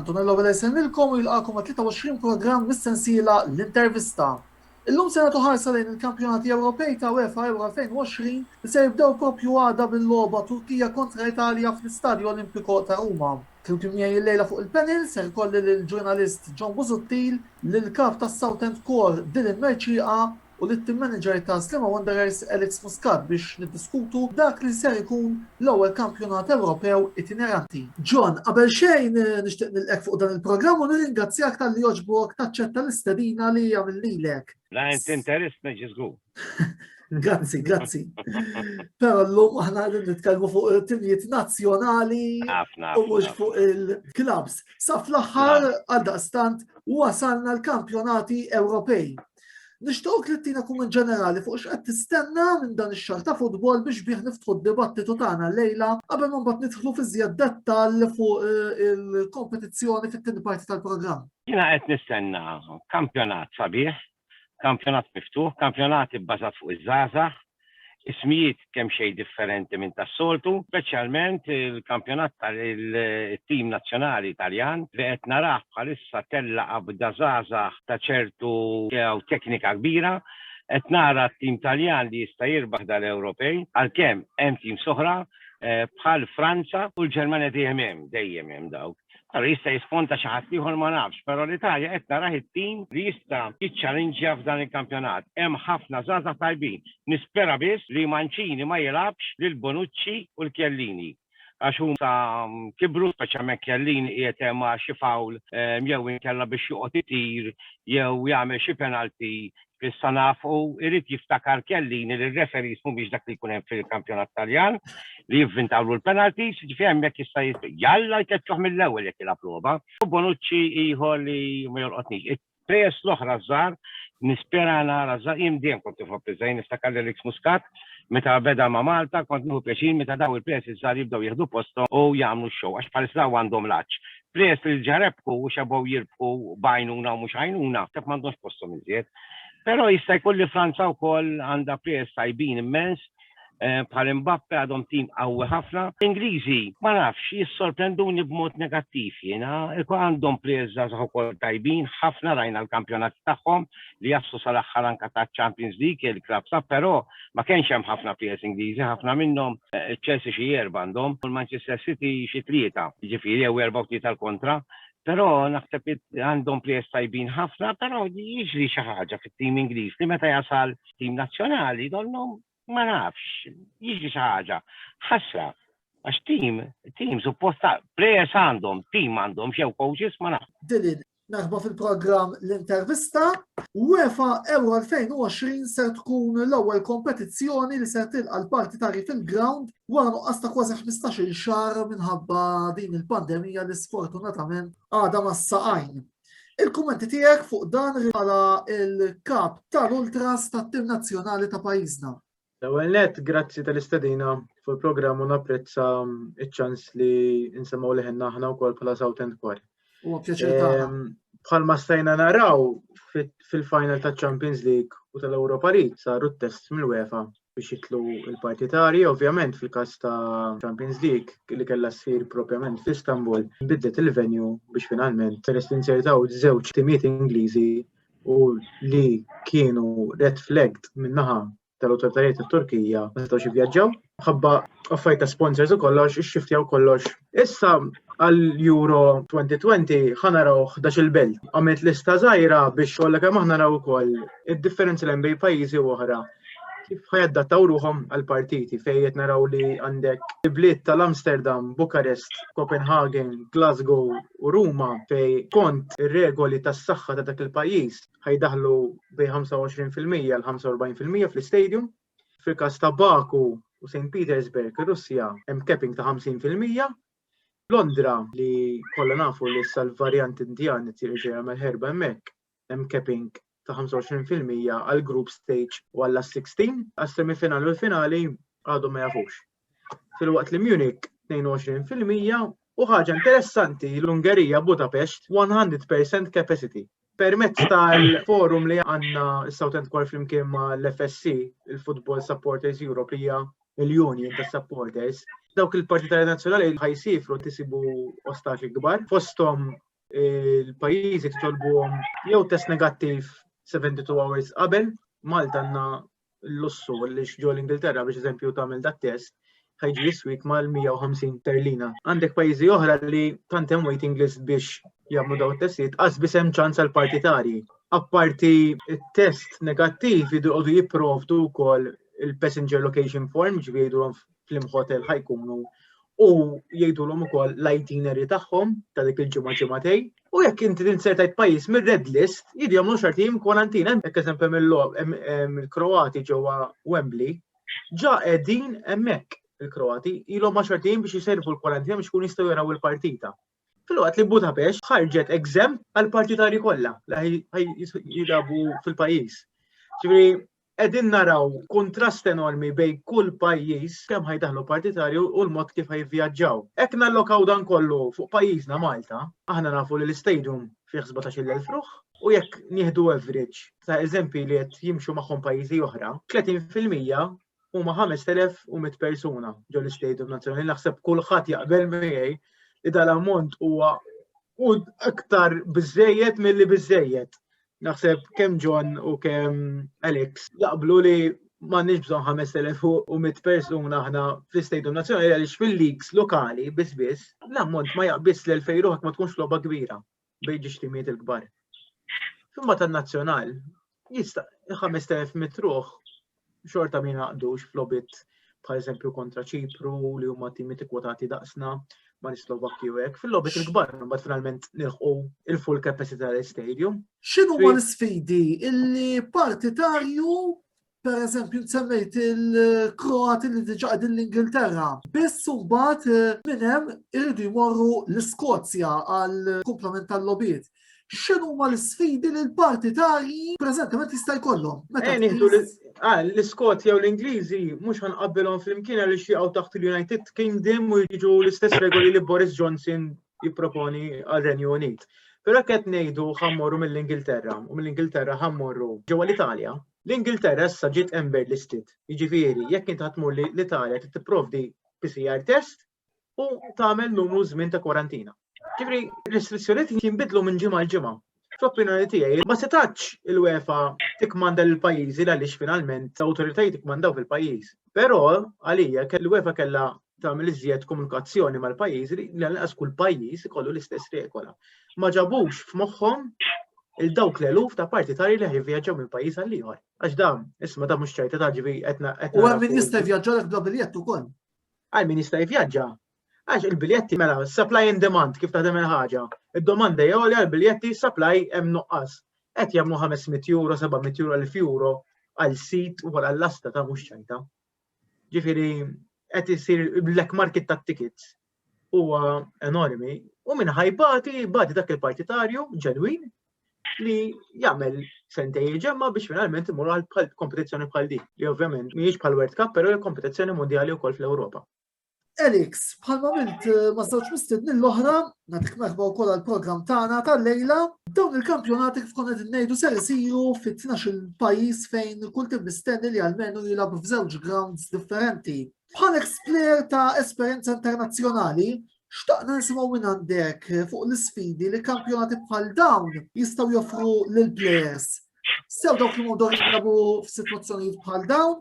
Antonello Vela jsemmilkom u jilqakom ma' 23 programm mis-sensiela L-Intervista. Illum se nagħtu ħarsa lejn il-Kampjonati Ewropej ta' UEFA Euro 2020 li se jibdew proprju għada bil-logħba Turkija kontra Italja fl-Istadju Olimpico ta' Ruma. Flimkien miegħi illejla fuq il-panel ser ikolli lill-ġurnalist John Busuttil, lill-kap tas-Southend Core Dylan Mercieqa u lit-Team Manager ta' Sliema Wanderers Alex Muscat biex niddiskutu dak li ser ikun l-ewwel kampjonat Ewropew itineranti. John, qabel xejn nixtieq nilqgħek fuq dan il-programm u nirringrazzjak talli għoġbok taċċetta l-istedina li għamilnilek. La int interist neġi żgur. Grazzi, grazzi. Però llum aħna qegħdin nitkellmu fuq it-timjiet nazzjonali u mhux fuq il-klabbs. Sa fl-aħħar għaldaqstant wasalna l-kampjonati Ewropej. Nixtiequ li tina kumment ġenerali fuq x'qed tistenna minn dan ix-xahar ta' futbol biex bih niftħu d-dibattitu tagħna lejla qabel ma mbagħad nidħlu fi żjed dettall fuq eh, il-kompetizzjoni fit-tieni parti tal-programm. Jiena qed nistenna kampjonat sabiħ, kampjonat miftuħ, kampjonat ibbażat fuq iż-żgħażagħ, Ismijiet kemxejn differenti minn tas-soltu, speċjalment il-kampjonat tal-tim nazzjonali Taljan li qed narah bħalissa tella' qabda żgħażagħ ta' ċertu idea u teknika kbira. Qed nara t-tim Taljan li jista' jirbaħ dal-Ewropej għalkemm hemm teams oħra bħal Franza u l-Ġermanja dejjem hemm, dejjem hemm dawk. Pero jista' jisponta xi ħadd ieħor ma nafx, pero l-Italja qed narah it-tim li jista' jiċċalinġja f'dan il-kampjonat. Hemm ħafna żgħażagħ tajbin. Nispera biss li Mancini ma jilgħabx lil Bonucci u l-Chiellini għax huma kibru, speċjalment Chiellini qiegħed hemm għal xi foul jew inkella biex joqgħod itir jew jagħmel xi penalty issa naf u irrid jiftakar Kellini li r-referees mhumiex dak li jkun hemm fil-kampjonat Taljan li jivvintawlu l-penalties, jiġifieri hemmhekk jista' jalla jkeċċuh mill-ewwel jekk jilgħab logħba. U Bonucci ieħor li ma jolqotnix. Il-plejers l-oħra żgħar nispera nara żgħar jien dejjem kont nħobb iż-żgħir niftakar lil X Muscat meta beda ma' Malta kont nieħu pjaċir meta dawn il-plejers iż-żgħar jibdew jieħdu posthom u jagħmlu x-show għax bħalissa dawn għandhom l-għatx. Players li diġà rebħu u xebgħu jirbħu b'għajnuna u mhux għajnuna naħseb m'għandhomx posthom iżjed. Però jista' jkun li Franza wkoll għandha players tajbin immens Eh, bħal Mbappe għadhom tim qawwi ħafna. Ingliżi, ma nafx, jissorprenduni b'mod negattiv jiena, ikun għandhom players żgħażagħ ukoll tajbin, ħafna rajna l-kampjonat tagħhom li jassu sal-aħħar anka ta' Champions League il-klab sa, però Ma kienx hemm ħafna players Ingliżi, ħafna minnhom, iċ-Chelsea xi erba' għandhom u l-Manchester City xi tlieta, jiġifieri jew erbgħa u tlieta l-kontra. Però naħseb għandhom players tajbin ħafna, però jiġri xi ħaġa fit-tim Ingliż li meta jasal tim nazzjonali donnhom ma nafx, jiġri xi ħaġa. Ħasra, għax tim, tim suppost players għandhom, tim m'għandhomx jew coaches ma nafx. Din Merħba fil-programm L-Intervista. UEFA Euro 2020 ser tkun l-ewwel kompetizzjoni li ser tilqa' l-partitari fil-ground wara nuqqas ta' kważi 15-il xahar minħabba din il-pandemija li sfortunatament għadha ma saqajn. Il-kummenti tiegħek fuq dan rigala il-kap tal-ultras tat-tim nazzjonali ta' pajjiżna. L-ewwel nett, grazzi tal-istedina fuq il-programm u napprezza ċ-ċans li nsemgħu leħenna aħna wkoll bħala South End Kwar. Huwa pjaċir tagħna. Ehm, bħalma stajna naraw fil-final ta' Champions League u tal-Europa League saru t-test mill-UEFA biex jitlu il-partitari, ovvjament fil-kas ta' Champions League li kella sfir propjament f'Istanbul, biddet il-venju biex finalment peress li nsertaw żewġ timiet Ingliżi u li kienu red flagged min-naħa tal-awtoritajiet tat-Turkija ma setgħux jivvjaġġaw ħabba affarijiet ta' sponsors u kollox ixxiftjaw kollox. Issa għal Euro 2020 ħanaraw 11 il-belt. Għamilt lista żgħira biex kollha kemm aħna naraw ukoll id-differenzi lejn bejn pajjiżi u oħra. kif ħajaddattaw ruħom għal-partiti fejn qed naraw li għandek ibliet tal-Amsterdam, Bukarest, Copenhagen, Glasgow u Ruma fej kont ir-regoli tas-saħħa ta' dak il-pajjiż ħajdaħlu bej 25% għal 45% fl-istadium. Fil-każ ta' Baku u St. Petersburg, ir-Russja hemm capping ta' 50%. Londra li kollha nafu li sal-varjant Indjan tirġa' jagħmel ħerba hemmhekk hemm capping ta' 25 fil-mija għal group stage u għal last 16 għas semifinali u l-finali għadhom ma jafux. Fil-waqt li Munich 22 fil-mija u ħaġa interessanti l-Ungerija Budapest 100% capacity. Permezz tal-forum li għanna s-Southend Core flimkien ma l-FSC, il-Football Supporters Europe li hija l-Union ta' Supporters, dawk il-partitari nazzjonali ħajsifru tisibu ostaxi kbar, fostom il-pajjiżi titolbuhom jew test negattiv 72 hours qabel, Malta għandna l-lussu li xġo l-Ingilterra biex eżempju tagħmel dat test ħajġi jiswik mal-150 terlina. Għandek pajjiżi oħra li tant hemm waiting list biex jagħmlu daw it-testijiet qas biss hemm ċans għal partitarji. Apparti it-test negattiv jidqogħdu jipprovdu wkoll il-passenger location form ġvidu fl-imħotel ħajkunu u jgħidulhom ukoll l-itinerary tagħhom ta' dik il-ġimgħa ġimgħatej. U jekk inti tinsertajt pajjiż mir-red list, jidi jagħmlu xorti jim kwarantina, jekk eżempju mill-Kroati ġewwa Wembley, ġa qegħdin hemmhekk il-Kroati, ilhom ma' xorti jim biex jisejrfu l-kwarantina biex kun jistgħu jaraw il-partita. Filwaqt li Budapest ħarġet exempt għal partitari kollha li jilabu fil-pajjiż. Ġifieri qegħdin naraw kontrast enormi bejn kull pajjiż kemm ħajdaħlu partitarju u l-mod kif ħajvjaġġaw. Hekk nallokaw dan kollu fuq pajjiżna Malta, aħna nafu li l-istadium fih 17,000 fruħ, U jekk nieħdu average ta' eżempi li qed jimxu magħhom pajjiżi oħra, 30% huma 5100 persuna ġol istadium nazzjonali naħseb kulħadd jaqbel miegħi li dal-ammont huwa u aktar biżejjed milli biżejjed. Naħseb kemm John u kemm Alex jaqblu li m'għandniex bżonn 5100 persuna aħna fl-istadium nazzjonali għaliex fil-leagues lokali biss biss l-ammont ma jaqbis l-2000 ma tkunx logħba kbira. bejn ġixtimiet il-kbar. Fimma tan-nazzjonal, jista' 5000 mitruħ xorta min għaqdux flobit bħal eżempju kontra ċipru li huma timi tikkwotati daqsna ma' l-Slovakki u hekk. Fil-lobet il-kbar mbagħad finalment nilħqu il-full capacity tal-stadium. X'inhu ma l-sfidi illi partitarju Per eżempju, semmejt il-Kroati li diġa għadin l-Ingilterra. Biss mbagħad eh, minn hemm irridu jmorru l-Iskozja għal komplement tal-lobiet. X'inhu ma l-sfidi li l-partitarji preżentament jista' jkollhom? Ah, l-Iskozja u l-Ingliżi mhux ħanqabbilhom flimkien għal jaqgħu taħt il-United Kingdom u jiġu l-istess regoli li Boris Johnson jipproponi għal Renju Unit. Però qed ngħidu ħammorru mill-Ingilterra u mill-Ingilterra ħammorru ġewwa l-Italja L-Ingilterra issa ġiet ember listed, jiġifieri jekk int ħadd tmur l-Italja trid tipprovdi PCR test u tagħmel numru żmien ta' kwarantina. Ġifri, restrizzjoniet jinbidlu minn ġimgħa l ġimgħa. Fl-opinjoni tiegħi, ma setax il-UEFA tikmanda l pajjiżi għaliex finalment l-awtoritajiet ikmandaw fil-pajjiż. Però għalija kell UEFA kellha tagħmel iżjed komunikazzjoni mal-pajjiżi li lanqas kull pajjiż ikollu l-istess regola. Ma ġabux f'moħħhom il dawk l-eluf ta' partitari li ħajvjaġġaw minn pajjiż għal ieħor. Għax dam, isma' da mhux ċajta ta' ġivi qedna qed. U hemm min jista' jvjaġġa lek bla biljett ukoll. Għal min jista' jvjaġġa. Għax il-biljetti mela supply and demand kif taħdem il-ħaġa. Id-domanda hija għolja l-biljetti supply hemm nuqqas. Qed jagħmlu 500 euro, 700 euro, 1000 euro għal sit u għal lasta ta' mhux ċajta. Ġifieri qed isir black market ta' tickets huwa enormi u minn ħajbati bati dak il-partitarju ġenwin li jagħmel sentej ġemma biex finalment imur għal kompetizzjoni bħal din, li ovvjament mhijiex bħal World Cup, però hija kompetizzjoni mondjali wkoll fl-Ewropa. Elix, bħalma milt eh, ma żewġ mistedni l-oħra, natik merħba wkoll għall-programm tagħna tal-lejla, dawn il-kampjonati kif konna qed ngħidu ser isiru fit-12 il-pajjiż fejn kull tim mistenni li għalmenu jilgħab f'żewġ grounds differenti. Bħal eksplejr ta' esperjenza internazzjonali, xtaqna nisimgħu minn għandek eh, fuq l-isfidi li kampjonati bħal dawn jistgħu joffru lill players sew dawk li mudor jinsabu f'sitwazzjonijiet bħal dawn,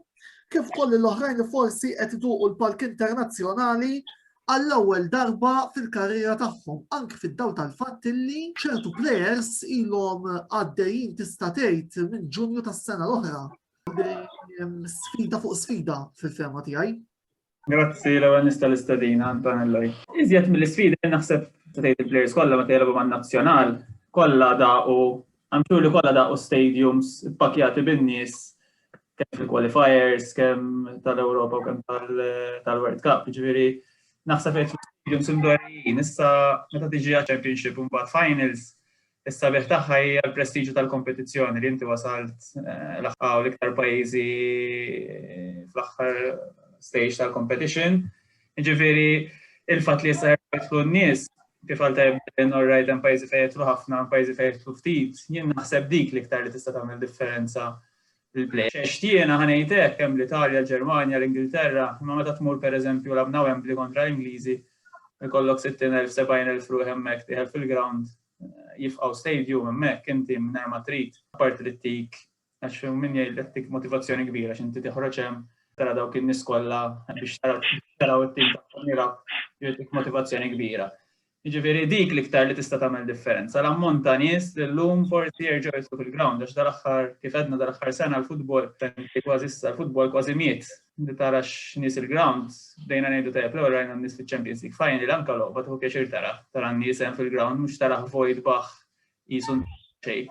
kif kolli l-oħrajn li forsi qed iduqu l-palk internazzjonali għall-ewwel darba fil-karriera tagħhom, anke fid-daw tal-fatt li ċertu players ilhom għaddejjin tista' tgħid minn Ġunju tas-sena l-oħra. Sfida fuq sfida fil-fema tiegħi. Grazzi l-ewwel nista' l-istedina Antonella. Iżjed mill-isfidi naħseb tgħid il-players kollha meta jilgħbu man-nazzjonal kollha daqu I'm sure li kollha daqu stadiums ppakjati bin-nies kemm fil-qualifiers, kemm tal-Ewropa u kemm tal-World Cup, ġifieri naħseb qed stadiums imdorrijin. Issa meta tiġi għal championship u mbagħad finals Is-sabiħ tagħha hija l-prestiġju tal-kompetizzjoni li inti wasalt eh, l-aħħar l-iktar pajjiżi eh, fl-aħħar stage tal-competition. Ġifieri il-fatt li jista' jidħlu n-nies kif għal tajbin orrajt hemm pajjiżi fejn jidħlu ħafna, pajjiżi fejn jidħlu ftit, jien naħseb dik l-iktar li tista' tagħmel differenza il-pleasures tiegħna, ħa ngħid hekk, hemm l-Italja, l-Ġermanja, l-Ingilterra, imma meta tmur pereżempju labna Wembley kontra l-Ingliżi, ikollok 60,000, 70,000 ruħ hemmhekk tieħel fil-ground, jifqgħu stadium hemmhekk inti mingħajr ma trid, apparti li tik għax min jgħidlek tik motivazzjoni kbira x'inti tiħroġ hemm tara dawk in-nies kollha biex taraw it-tim tagħhom jilgħab jgħidlek motivazzjoni kbira. Jiġifieri dik l-iktar li tista' tagħmel differenza, l-ammont ta' nies li llum forsi jerġgħu jidħlu fil-grawnd għax dal-aħħar, kif għedna dal-aħħar sena l-futbol, anke kważi issa, l-futbol kważi miet. Li tara x'nies il-grawnd, bdejna ngħidu tajjeb l-ewwel rajna n-nies fiċ-Champions League Final, anke logħba tieħu pjaċir tara, tara n-nies hemm fil-grawnd mhux taraħ vojt baħħ Qisu xejn.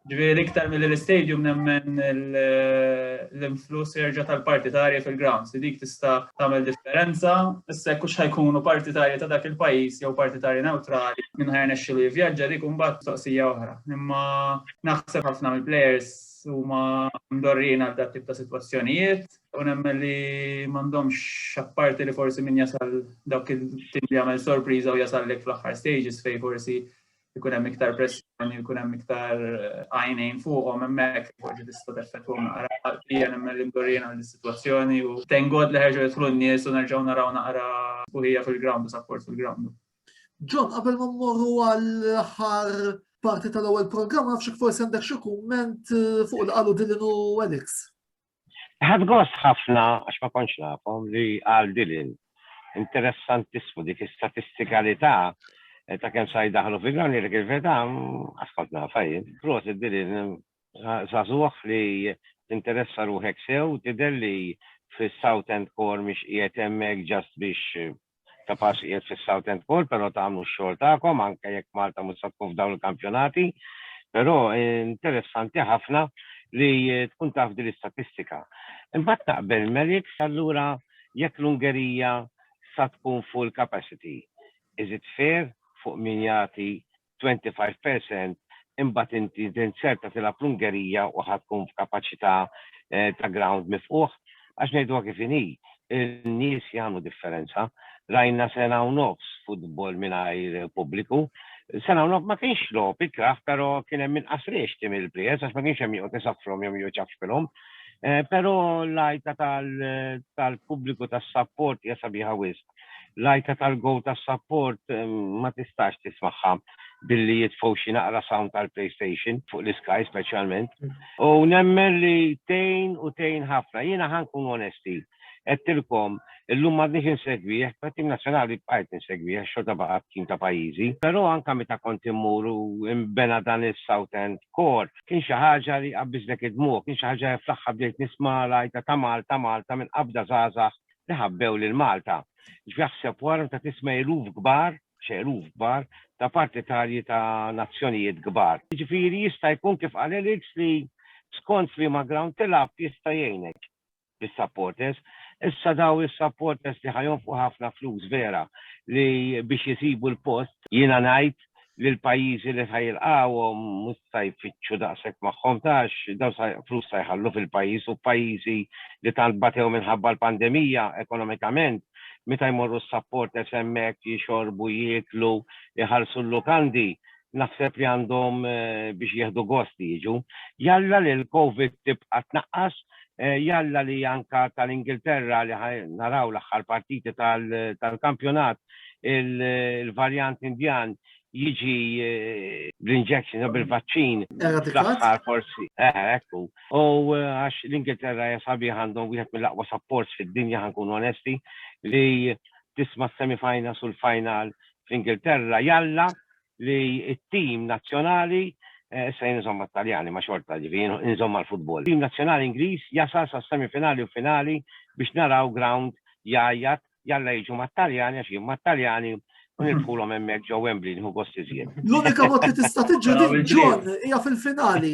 Ġifieri iktar milli l-istadium nemmen l-influss jerġa' tal-partitarji fil-grounds li dik tista' tagħmel differenza issa jekk hux ħajkunu partitarji ta' dak il-pajjiż jew partitarji newtrali min ħajrnexxilu jivvjaġġa dik imbagħad mistoqsija oħra. Imma naħseb ħafna mill-plejers huma mdorrijin għal dat tip ta' sitwazzjonijiet u nemmen li m'għandhomx apparti li forsi min jasal dawk il-tim li jagħmel sorpriża u jasal lek fl-aħħar stages fejn forsi ikun hemm iktar pressjoni, ikun hemm iktar eh, għajnejn fuqhom hemmhekk fuq ġi tista' teffettwa naqra hija nemmel indorjena l-sitwazzjoni u tengod li ħerġu jidħlu n-nies u nerġgħu naraw naqra sbuħija fil-ground u sapport fil-ground. Ġon, qabel ma mmorru għall-aħħar parti tal-ewwel programm nafx forsi għandek xi kumment eh, fuq l-qalu Dylan u Alex. Ħadt gost ħafna, għax ma kontx nafhom, li qal Dylan. Interessantissmu dik istatistikalità ta' kemm sa jdaħħlu fil-grawnd jgħidlek il-verità, qatt kont nafha jien. Prosit Dylan, żagħżugħ li tinteressa ruħek sew, tidher li fis-Southend Core mhix qiegħed hemmhekk just biex ta' pass qiegħed fis-Southend Bowl, però tagħmlu x-xogħol tagħkom anke jekk Malta mhux se tkun f'dawn il-kampjonati. Però interessanti ħafna li tkun taf din l-istatistika. Imbagħad taqbel Merix allura jekk l-Ungerija sa tkun full capacity, is it fair fuq min jagħti twenty five per cent imbagħad inti tinzerta tilgħab l-Ungerija u ħa tkun f'kapaċità ta' ground mifqugħ. Għax ngħiduha kif inhi, in-nies jagħmlu differenza. Rajna sena u nofs futbol mingħajr pubbliku. Sena u nofs ma kienx logħob ikrah però kien hemm inqas riexti mill-players għax ma kienx hemm min joqgħod isaffrhom jew min joqgħod iċaffpilhom. Però l-għajta tal-pubbliku tas-sapport hija sabiħa wisq. L-għajta tal-gow tas-sapport ma tistax tismagħha billi jitfgħu xi naqra sound tal-PlayStation fuq l-iskaj speċjalment. U nemmen li tejn u tejn ħafna. Jiena ħankun onesti. Għedtilkom, illum m'għadniex insegwih, ma tim nazzjonali bqajt insegwih, xorta baqa' tim ta' pajjiżi. Però anke meta kont immur u imbena dan is-South End Core, kien xi ħaġa li qabbiżlek id-dmugħ, kien xi ħaġa fl-aħħar bdejt nisma' l-għajta ta' Malta, Malta minn qabda żgħażagħ li ħabbew lil Malta. X'jaħseb wara meta tisma' eluf kbar, x'eluf kbar, ta' partitarji ta' nazzjonijiet kbar. Jiġifieri jista' jkun kif qal Alex li skont f'liema ground tilgħab jista' jgħinek bis-supporters. Issa dawn is-supporters li ħa jonfqu ħafna flus vera li biex isibu l-post. Jiena ngħid li l-pajjiżi li sa jilqgħuhom mhux sa jfittxu daqshekk magħhom għax dawn sa flus sa jħallu fil-pajjiż u pajjiżi li tant batew minħabba l-pandemija ekonomikament meta jmorru s-supporters hemmhekk jixorbu, jieklu, iħallsu l-lukandi naħseb li għandhom biex jieħdu gost li jiġu. Jalla li l-Covid tibqa' tnaqqas jalla li anka tal-Ingilterra li naraw l-aħħar partiti tal-kampjonat il-varjant Indjan jiġi bl-injection u bil-vaċċin. L-aħħar forsi. Ekku. U għax l-Ingilterra hija sabiħ għandhom wieħed mill-aqwa supports fid-dinja ħankun onesti li tisma' s-semifinals u l-final fl-Ingilterra jalla li t-tim nazzjonali, issa jien inżomm mat-Taljani ma xorta ġifieri jien inżomm mal-futbol, it-tim nazzjonali Ingliż jasal sas-semifinali u finali biex naraw ground jgħajjat jalla jiġu mat-Taljani għax jien mat-Taljani u nirbħulhom hemmhekk ġo Wembley nieħu gost iżjed. L-unika mod li tista' tiġri din John hija fil-finali.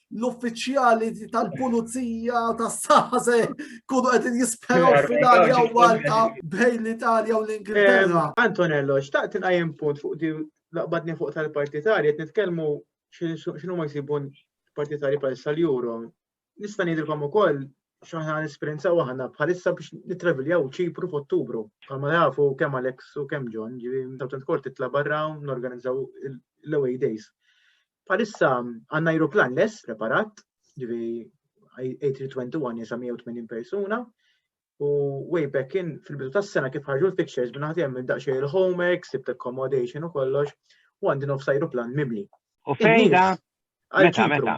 l-uffiċjali tal-pulizija tas-saħħa se kunu qed jisperaw f'Italja u Malta bejn l-Italja u l-Ingilterra. Eh, Antonello, xtaqt inqajjem punt fuq di laqbadni fuq tal-partitarji, qed nitkellmu x'inhu ma jsibun partitarji bħal sal-Euro. Nista' ngħidilkom ukoll x'aħna nisperjenzaw aħna bħalissa biex nittraviljaw ċipru f'Ottubru. Bħalma jafu kemm Alex u kemm John, ġivi mtawtent kort titla barra norganizzaw l-away days. Bħalissa għandna ajruplan less preparat, ġivi A321 jesa 180 persuna, u way back in fil-bidu tas-sena kif ħarġu l-fixtures minn ħadd hemm daqsxejn il-homework, sibt accommodation u kollox, u għandi nofs ajruplan mimli. U fejda? Meta, meta?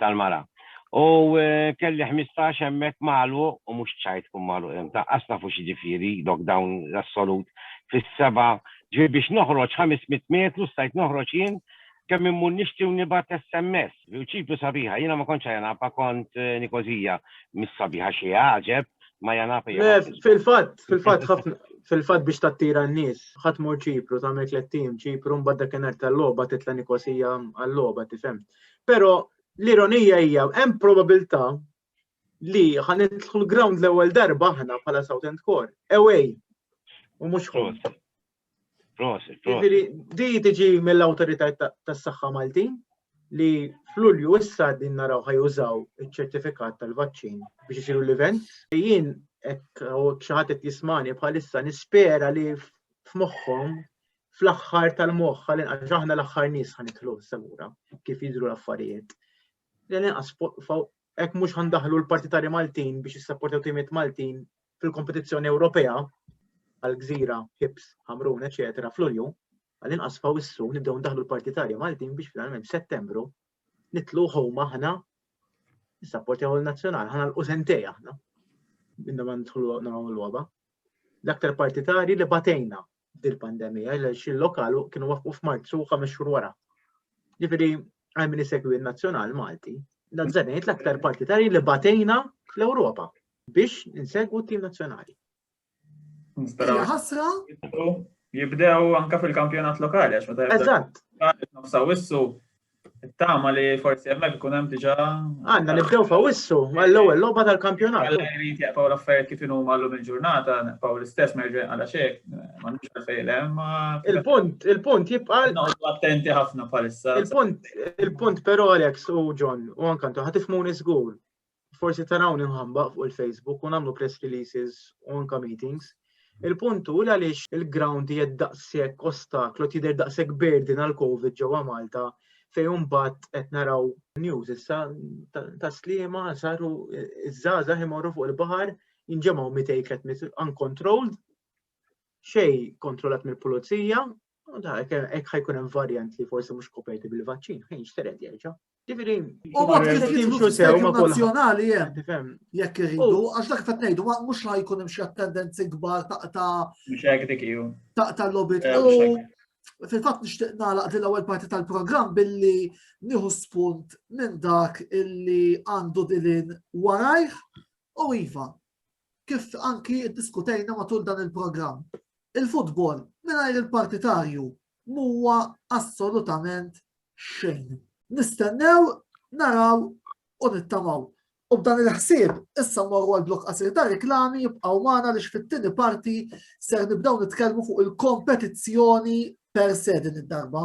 tal-mara. U kelli ħmistax hemmhekk magħluq u mhux ċajt tkun magħluq hemm. Taqqas nafu x'jiġifieri lockdown assolut fis-seba' ġifieri biex noħroġ 500 metru stajt noħroġ jien kemm immur nixtri u nibgħat SMS. U ċipru sabiħa, jiena ma kontx Ajanapa kont Nikozija, mhix sabiħa xi għaġeb, ma Ajanapa hija. Le, fil-fatt, fil-fatt ħafna fil-fatt biex tattira n-nies, ħadd mur ċipru tagħmel tliet tim, ċipru mbagħad dakinhar tal-logħba titla' Nikosija għal-logħba tifhem. Però l-ironija hija hemm probabilità li ħan nidħlu l-ground l-ewwel darba aħna bħala South End Core. Away. U mhux home. Prosit, prosit. Di tiġi mill-awtorità tas-saħħa Maltin li fl-Ulju issa din naraw ħajużaw iċ-ċertifikat tal-vaċċin biex isiru l-event. Jien hekk xi ħadd qed jismani bħalissa nispera li f'moħħhom fl-aħħar tal-moħħ għal inqas aħna l-aħħar nies ħanidħlu semura kif jidhru l-affarijiet. L inqas hekk mhux ħandaħlu l-partitari Maltin biex jissapportaw timiet Maltin fil-kompetizzjoni Ewropea għal gżira, hips, ħamrun, eċetera, fl-ulju, għal inqas fawissu nibdew ndaħlu l-partitari Maltin biex finalment f'Settembru nitlu ħoma aħna nissapportaw il-nazzjonal, ħana l-użentej aħna. Minna ma nidħlu nagħmlu l-logħba. L-aktar partitari li batejna dil-pandemija, għaliex il-lokal kienu waqqfu f'Marzu ħames xhur wara. Ġifieri għal min isegwi n-nazzjonal Malti, dan żenejt l-aktar partitari li batejna fl-Ewropa biex insegwu t-tim nazzjonali. Ħasra? Jibdew anka fil-kampjonat lokali, għax meta jibdew. Eżatt. Nofsaw issu Tama li forsi hemmhekk ikun hemm diġà. Għandna nibdew fawissu mal-ewwel logħba tal-kampjonat. Alla jrid jaqpaw l-affarijiet kif inhuma llum il-ġurnata, naqpaw l-istess ma jerġa' għala xejn, m'għandux għalfejn hemm. Il-punt, il-punt jibqa' Noqgħodu attenti ħafna bħalissa. Il-punt, il-punt però Alex u John u anke intom ħatifmuni żgur. forsi tarawni mħamba fuq il-Facebook u nagħmlu press releases u anka meetings. Il-punt hu għaliex il-ground hija daqshekk ostaklu tidher daqshekk burden għal COVID ġewwa Malta fejn imbagħad qed naraw news issa ta' slima saru iż-żgħażagħ imorru fuq il-baħar jinġemgħu mitej kretmit uncontrolled xej kontrollat mill-pulizija, hekk ħajkun hemm varjant li forsi mhux koperti bil-vaċċin, ħin xtered jerġa'. Ġifieri, u mod kif jimxu sew ma' nazzjonali hemm jekk iridu, għax dak qed ngħidu mhux la jkun hemm xi attendenzi kbar ta' ta' ta' lobby. Fil-fatt nixtieq nagħlaq din l-ewwel parti tal-programm billi nieħu spunt minn dak illi għandu dilin warajh u iva kif anki ddiskutejna matul dan il-programm, il-futbol mingħajr il-partitarju m'huwa assolutament xejn. Nistennew, naraw u nittamaw. U b'dan il-ħsieb, issa morru għal blok qasir ta' reklami jibqgħu magħna li fit-tieni parti ser nibdew nitkellmu fuq il-kompetizzjoni per se din id-darba.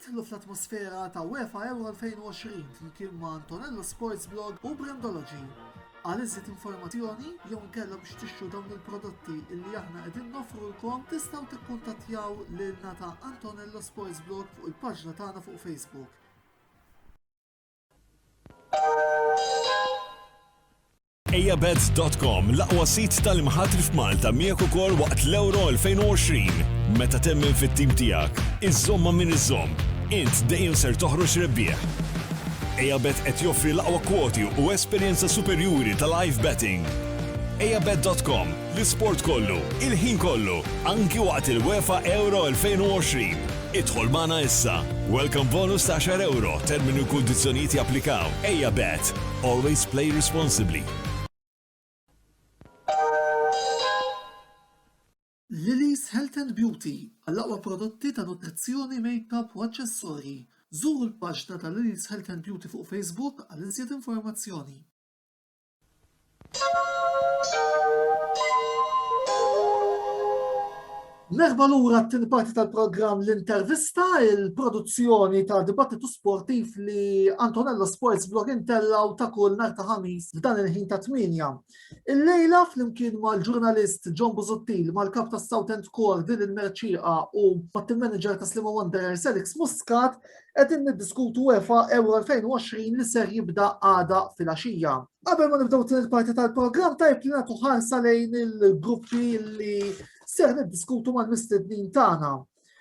Idħlu fl-atmosfera ta' UEFA Euro 2020 flimkien ma' Antonello Sports Blog u Brandology. Għal iżjed informazzjoni jew inkella biex tixtru dawn il-prodotti illi aħna qegħdin noffrulkom tistgħu tikkuntattjaw lilna ta' Antonello Sports Blog fuq il-paġna tagħna fuq Facebook. Ejabets.com l-aqwa sit tal-imħatri f'Malta miegħek ukoll waqt l-Euro 2020. Meta temmen fit-tim tiegħek, iżomma min iżomm, int dejjem ser toħroġ rebbieħ. Ejabet qed joffri l-aqwa kwoti u esperjenza superjuri ta' live betting. Ejabet.com L-isport kollu, il-ħin kollu, anki waqt il-UEFA Euro 2020. Idħol magħna issa. Welcome bonus ta' €10, termini u kundizzjonijiet japplikaw. Ejja Bet! Always play responsibly. Lily's Health and Beauty għall-aqwa prodotti ta' nutrizzjoni, makeup u aċċessorji. Żuru l-paġna ta' Lily's Health and Beauty fuq Facebook għal iżjed informazzjoni. Merħba lura t-tieni parti tal-programm l-intervista, il-produzzjoni ta' dibattitu sportiv li Antonello Sports Blog intellaw ta' kull nar ta' ħamis f'dan il-ħin ta' tminja. Il-lejla flimkien mal-ġurnalist John Buzuttil, mal-kap ta' Southend Core din il-merċiqa u mat-team manager ta' Slima Wanderers Alex Muscat, Qegħdin niddiskutu UEFA Euro 2020 li ser jibda għada fil-għaxija. Qabel ma nibdew din il-parti tal-programm tajb li nagħtu ħarsa lejn il-gruppi li ser niddiskutu mal-mistednin tagħna.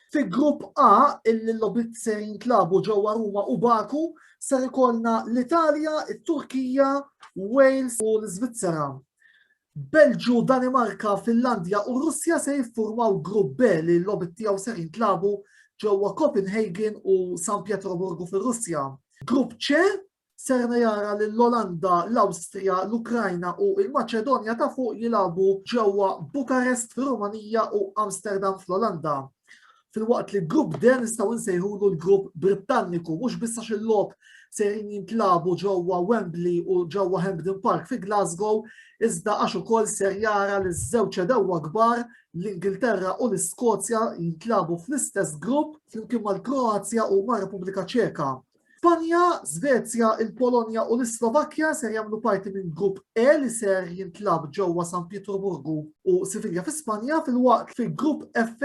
Fi grupp A, illi l-lobit ser jintlabu ġewwa Ruma u Baku, ser ikollna l-Italja, it-Turkija, Wales u l-Svizzera. Belġju, Danimarka, Finlandja u Russja se jiffurmaw Grupp B li l-logħbiet tiegħu ser jintlagħbu ġewwa Copenhagen u San Pietroburgu fir-Russja. Grupp C ser jara lil Olanda, l-Awstrija, l-Ukrajna u l-Maċedonja ta' Fuq jilagħbu ġewwa Bukarest fir-Rumanija u Amsterdam fl-Olanda. Filwaqt li grupp de nistgħu nsejħulu l-grupp Brittanniku mhux biss għax il-logħob sejrin jintlabu ġewwa Wembley u ġewwa Hampden Park fi Glasgow, iżda għax ukoll ser jara li żewġ edewwa kbar l-Ingilterra u l-Iskozja jintlabu fl-istess grupp flimkien mal-Kroazja u mar-Repubblika Ċeka. Spanja, Svezja, il-Polonja u l-Islovakkja ser jagħmlu parti minn grupp E li ser jintlab ġewwa San Pietroburgu u Sivilja fi Spanja fil-waqt fi grupp F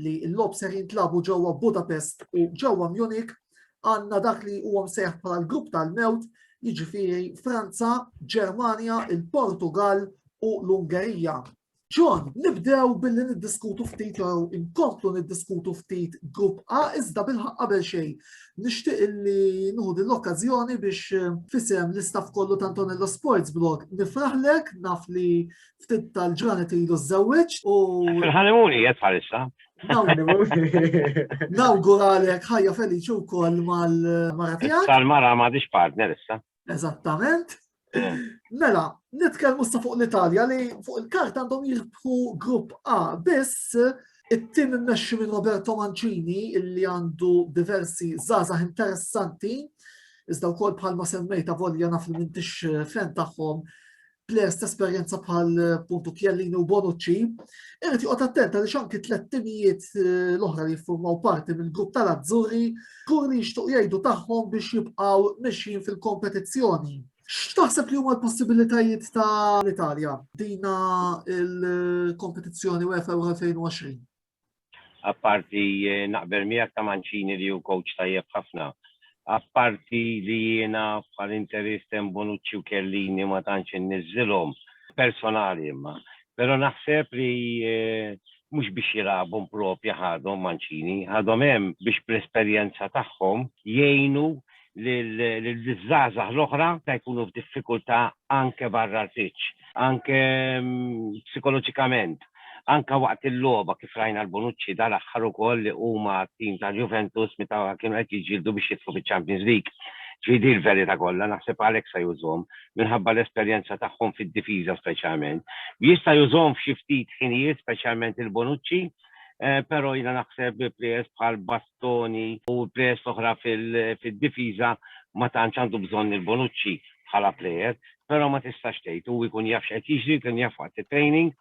li l-lob ser jintlabu ġewwa Budapest u ġewwa Munich għandna dak li huwa msejħ bħala l-grupp tal-mewt jiġifieri Franza, Ġermanja, il-Portugal u l-Ungerija. John, nibdew billi niddiskutu ftit jew inkomplu niddiskutu ftit grupp A iżda bilħaq qabel xejn. Nixtieq li nuħu l-okkażjoni biex eh, fisem l-istaff kollu ta' Antonello Sports Blog nifraħlek naf li ftit tal-ġranet ilu żewweġ u. Fil-ħanimuni qed bħalissa. Nawguralek ħajja feliċi wkoll mal-mara tiegħek. Tal-mara m'għadix partner issa. Eżattament. Mela, nitkellmu sa fuq l-Italja li fuq il-kart għandhom jirbħu grupp A biss it-tim immexxi minn Roberto Mancini illi għandu diversi zazah interessanti iżda wkoll bħalma semmejta volja naf li mintix fan tagħhom plejers ta' esperjenza bħal puntu Kjellini u Bonucci, irrid joqgħod attent għaliex anki tliet timijiet eh, l-oħra li jiffurmaw parti mill-grupp tal-Azzurri kur li jixtuq jgħidu tagħhom biex jibqgħu mixjin fil-kompetizzjoni. X'taħseb li huma l-possibilitajiet tal-Italja dina il-kompetizzjoni UEFA 2020? Apparti naqbel miegħek ta' Mancini li hu coach tajjeb ħafna. Apparti li jiena bħal interisten Bonucci u Chiellini ma tantx inniżżilhom. Personali imma. Però naħseb li mhux biex jilagħbu mproprja ħadhom Mancini. Ħadhom hemm biex bl-esperjenza tagħhom jgħinu liż-żgħażagħ l-oħra meta jkunu f'diffikultà anke barra l-pitch, anke psikoloġikament, anke waqt il-logħba kif rajna l-Bonucci dal-aħħar ukoll li huma t-tim tal-Juventus meta kienu qed jiġġieldu biex jidħlu fiċ-Champions League. Ġifieri hi l-verità kollha, naħseb għalhekk se jużhom, minħabba l-esperjenza tagħhom fid-difiża speċjalment. Jista' jużhom f'xi ftit ħinijiet speċjalment il-Bonucci, però jiena naħseb bi players bħal Toni u players oħra fid-difiża ma tantx għandu bżonn lil Bonucci bħala player, però ma tistax tgħid, hu jkun jaf x'qed jiġri, kien jaf waqt it-training.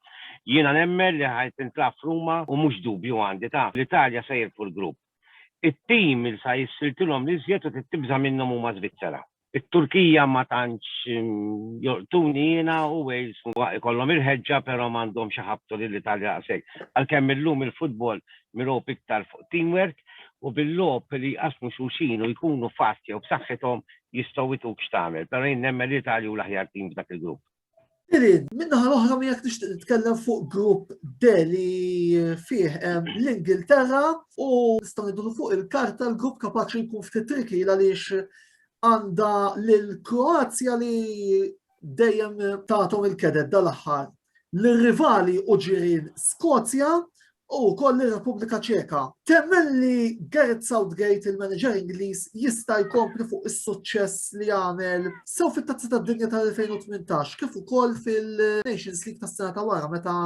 Jiena nemmen li ħa tintlagħab f'Ruma u mhux dubju għandi, taf, l-Italja sa jirbħu l-grupp. It-tim li sa jissiltilhom l-iżjed u trid tibża' minnhom huma Żvizzera. It-Turkija ma tantx jolqtuni jiena u Wales huwa ikollhom il-ħeġġa però m'għandhomx iħabbtu lill-Italja daqshekk. Għalkemm illum il-futbol mirob iktar fuq teamwork u bil-logħob li jqassmu xulxin u jkunu fast jew b'saħħithom jistgħu jtuk x'tagħmel. Però jien nemmen li l-Italja hu l-aħjar team f'dak il-grupp. Irid, minnaħa l-oħra miegħek nixtieq nitkellem fuq grupp deli fih l-Ingilterra u nistgħu ngħidu fuq il-karta l-grupp kapaċi jkun ftit triki għaliex għandha lil Kroazja li dejjem tagħthom il-kedet dal-aħħar. L-rivali u ġirien Skozja u wkoll ir-Repubblika Ċeka. Temmen li Gareth Southgate, il-manager Ingliż, jista' jkompli fuq is-suċċess li għamel sew fit-Tazza tad-Dinja tal-2018 kif ukoll fil-Nations League tas-sena ta' wara meta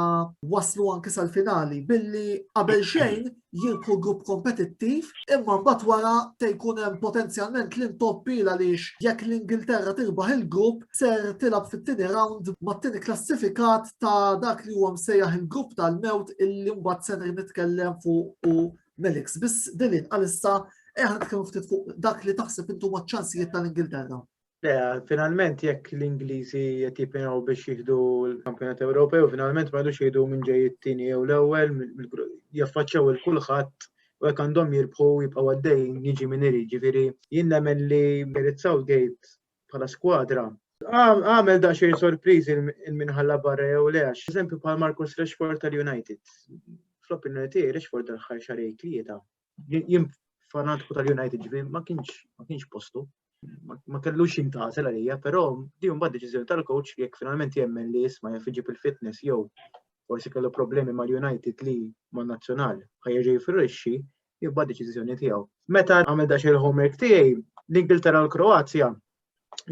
waslu anke sal-finali billi qabel xejn jirku grupp kompetittiv imma mbagħad wara te jkun hemm potenzjalment l-intoppi għaliex jekk l-Ingilterra tirbaħ il-grupp ser tilgħab fit-tieni round mat-tieni klassifikat ta' dak li huwa msejjaħ il-grupp tal-mewt illi mbagħad ser nitkellem fuq u Melix. Biss Dilin għalissa eħ nitkellmu ftit fuq dak li taħseb intu maċ-ċansijiet tal-Ingilterra. Le, finalment jekk l-Ingliżi qed jippinaw biex jieħdu l-Kampjonat Ewropew, finalment ma jidux jieħdu minn ġej it-tieni jew l-ewwel, jaffaċċaw il-kulħadd u jekk għandhom jirbħu jibqgħu għaddejjin jiġi minn irid, ġifieri jien nemmen li Merit Southgate bħala skwadra. Għamel da xejn sorpriżi il-minħalla barra jew le għax eżempju bħal Marcus Rashford tal-United. Fl-opinjoni tiegħi Rashford tal-ħar xarej tlieta. Jien fanatku tal-United ġifieri ma kienx ma kienx postu. Ma kellux jintażel għalija, però di mbagħad deċiżjoni tal-coach jekk finalment jemmen li jisma' jaf iġib il-fitness jew forsi kellu problemi mal-United li man-nazzjonal ħajja ġej firrixxi jibba deċiżjoni tiegħu. Meta għamil dax il-homework tiegħi, l-Ingilterra u l-Kroazja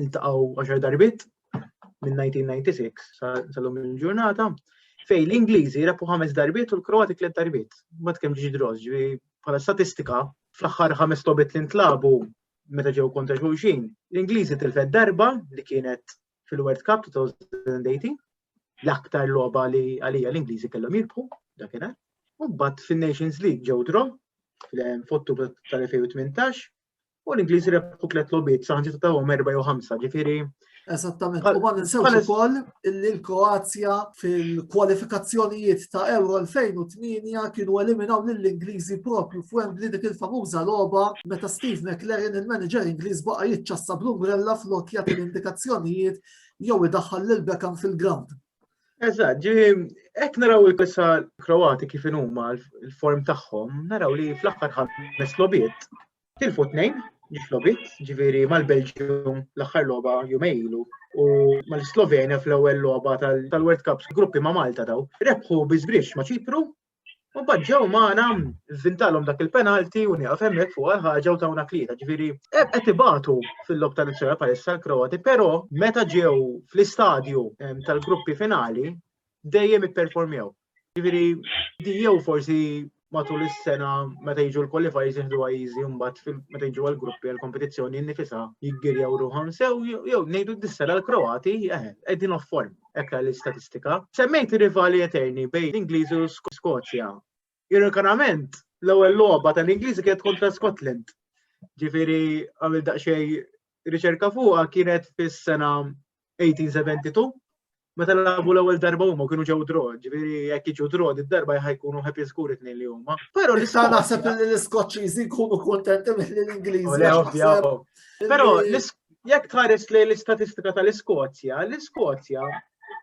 iltaqgħu 10 darbit minn 1996 sal-lum il-ġurnata fej l-Ingliżi rapu ħames darbit u l-Kroati tliet darbit. Ma tkemm ġiġi droż, bħala statistika, fl-aħħar ħames tobit li ntlabu meta ġew kontra xulxin, l-Ingliżi tilfed darba li kienet fil-World Cup 2018, l-aktar logħba li għalija l-Ingliżi kellhom jirbħu dakinhar. U mbagħad fin-Nations League ġew draw fottu tal-2018 u l-Ingliżi rebħu tliet lobiet saħġi ta' għom erba' jew ħamsa, ġifieri. Eżattament, u ma ninsewx ukoll li l-Kroazja fil-kwalifikazzjonijiet ta' Euro 2008 kienu eliminaw lill-Ingliżi propju f'Wembley dik il-famuża logħba meta Steve McLaren il-manager Ingliż baqa' jiċċassa bl-umbrella flok jagħti l-indikazzjonijiet jew idaħħal lil Beckham fil-ground. Eżatt, ġi hekk naraw il-kissa Kroati kif huma l-form tagħhom, naraw li fl-aħħar ħames lobiet Tilfu tnejn biex lobit, ġifieri mal-Belġium l-aħħar logħba jumej ilu u mal-Slovenja fl-ewwel logħba tal-World Cup gruppi ma' Malta daw. Rebħu biżbrix ma' Ċipru u badġew magħna vintalhom dak il-penalti u nieqaf hemmhekk fuq ħaġa u tawna klieta. Ġifieri qed ibatu fil-lob tal-izzera palissa l-Kroati, però meta ġew fl-istadju tal-gruppi finali dejjem ipperformjaw. Ġifieri, di jew forsi matul is-sena meta jiġu l-qualifiers jieħdu għajzi mbagħad meta jiġu għall-gruppi għall-kompetizzjoni nifisha jiggirjaw ruħhom sew jew ngħidu d-dissela l-Kroati eh, qegħdin off form hekk l-istatistika. Semmejt rivali eterni bejn l-Ingliżi u Skozja. Ironikament, l-ewwel logħba tal-Ingliżi kienet kontra Scotland. Ġifieri għamil daqsxejn riċerka fuqha kienet fis-sena 1872 meta labu l-ewwel darba huma kienu ġew draw, ġifieri jekk jiġu draw id-darba jkunu happy skur it-tnejn li huma. Però li sa naħseb li l-Iskoċċiżi jkunu kuntenti mill l-Ingliżi. Però jekk tħares li l-istatistika tal-Iskozja, l-Iskozja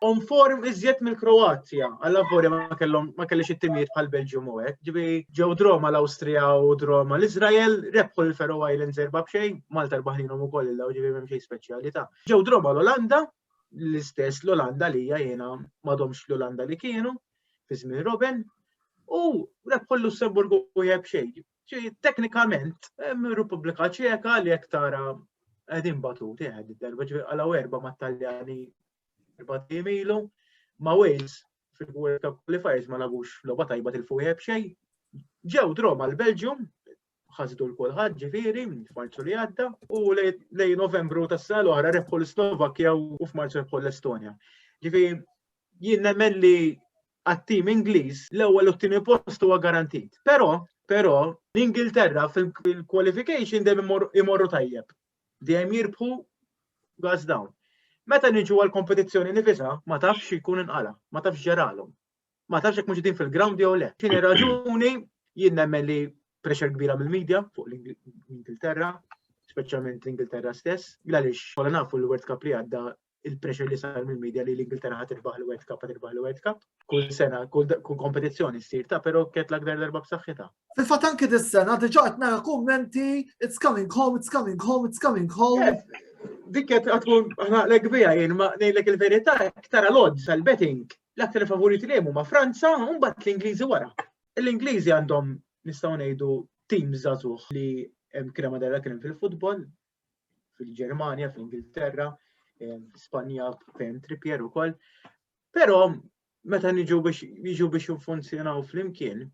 on form iżjed mill-Kroazja, għalla vori ma kellhom ma kellix it-timijiet bħal Belġium u hekk. Ġibi ġew droma l-Awstrija u droma l-Iżrael, rebħu l-Faroe Islands erba' b'xejn, Malta rbaħninhom ukoll il-law ġibi m'hemm xejn speċjalità. Ġew droba l-Olanda, l-istess l-Olanda li hija jiena m'għadhomx l-Olanda li kienu fi żmien Robin, u rebħu l-Lussemburgu u jeb xejn. Teknikament, hemm Repubblika Ċeka li jekk tara qegħdin batuti għed id-derba ġifier għalaw erba' mat-Taljani erba' tim ilu, ma' Wales fil-World Cup Qualifiers ma lagux logħba tajba tilfu jeb xejn. Ġew droba l-Belġium, ħasdu l-kulħadd ġifieri f'Marzu li għadda u lej Novembru tas-sena l-oħra rebħu l-Slovakkja u f'Marzu rebħu l-Estonja. Ġifieri jien nemmen li għat-tim Ingliż l-ewwel u t-tieni post huwa garantit. Però, però l-Ingilterra fil-qualification dejjem imorru tajjeb. Dejjem jirbħu gas down. Meta niġu għal kompetizzjoni nifisa, ma tafx jkun inqala, ma tafx ġeralhom. ma tafx jekk mhux din fil-ground jew le. Tieni raġuni jien nemmen li pressure kbira mill-medja fuq l-Ingilterra, speċjalment l-Ingilterra stess, għaliex kolla nafu l-World Cup li għadda il-pressure li sar mill-medja li l-Ingilterra ħat irbaħ l-World Cup, ħat irbaħ l-World Cup. Kull sena, kull kompetizzjoni ssir ta' pero ket l-aktar darba b'saħħitha. Fil-fatt anke dis-sena diġà qed nara kummenti it's coming home, it's coming home, it's coming home. Dik qed tkun aħna l-ekbija jien ma ngħidlek il-verità tara l-odds għall-betting L-aktar favoriti li huma Franza u mbagħad l-Ingliżi wara. L-Ingliżi għandhom nistgħu ngħidu tim żagħżugħ li hemm kien hemm darba kien fil-futbol, fil-Ġermanja, fil-Ingilterra, Spanja fejn Trippier ukoll. Però meta niġu biex jiġu biex jiffunzjonaw flimkien,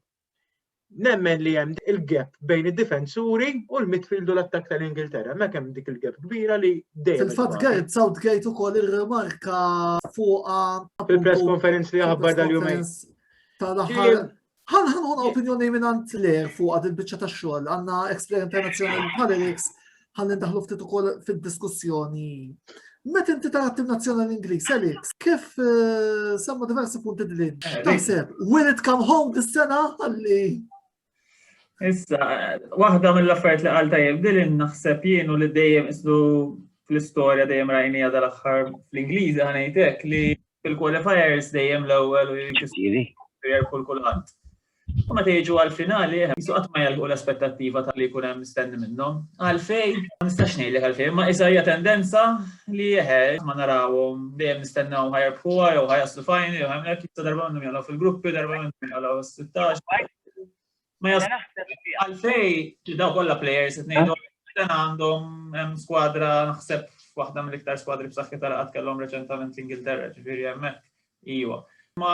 Nemmen li hemm il-gap bejn id-difensuri u l-midfield u l-attak tal-Ingilterra. Ma kemm dik il-gap kbira li dejjem. Fil-fatt Gareth Southgate ukoll ir-remarka fuqa fil-press conference li aħbar dal-jumejn. Tal-aħħar Għan għan għan opinjoni minn għant ler fuq għad il-bicċa ta' xol, għanna Explorer International Politics, ħalli ndaħlu ftit ukoll fid-diskussjoni. Meta inti tagħti nazzjonal Ingliż, Alex, kif eh, semma diversi punti din? Eh, Taħseb, will it come home dis-sena ħalli Issa, waħda mill-affarijiet li għal tajjeb dilin naħseb jienu li dejjem islu fl-istorja dejjem rajnija dal-aħħar fl-Ingliżi ħanejtek li fil-qualifiers dejjem l-ewwel u jkisiri kull kulħadd. U meta jiġu għall-finali, jisu qatt ma jalħu l-aspettattiva ta' li jkun hemm mistenni minnhom. Għalfej, ma nistax ngħidlek għalfej, ma isa hija tendenza li jeħe ma narawhom dejjem nistennew ħajrbħuha jew ħajaslu fajn jew hemmhekk jista' darba minnhom jagħlgħu fil-gruppi, darba minnhom jagħlgħu 16. Ma għalfej daw kollha players qed ngħidu dan għandhom hemm skwadra naħseb waħda mill-iktar skwadri b'saħħitha li qatt kellhom reċentament l-Ingilterra, ġifieri hemmhekk Iva. Ma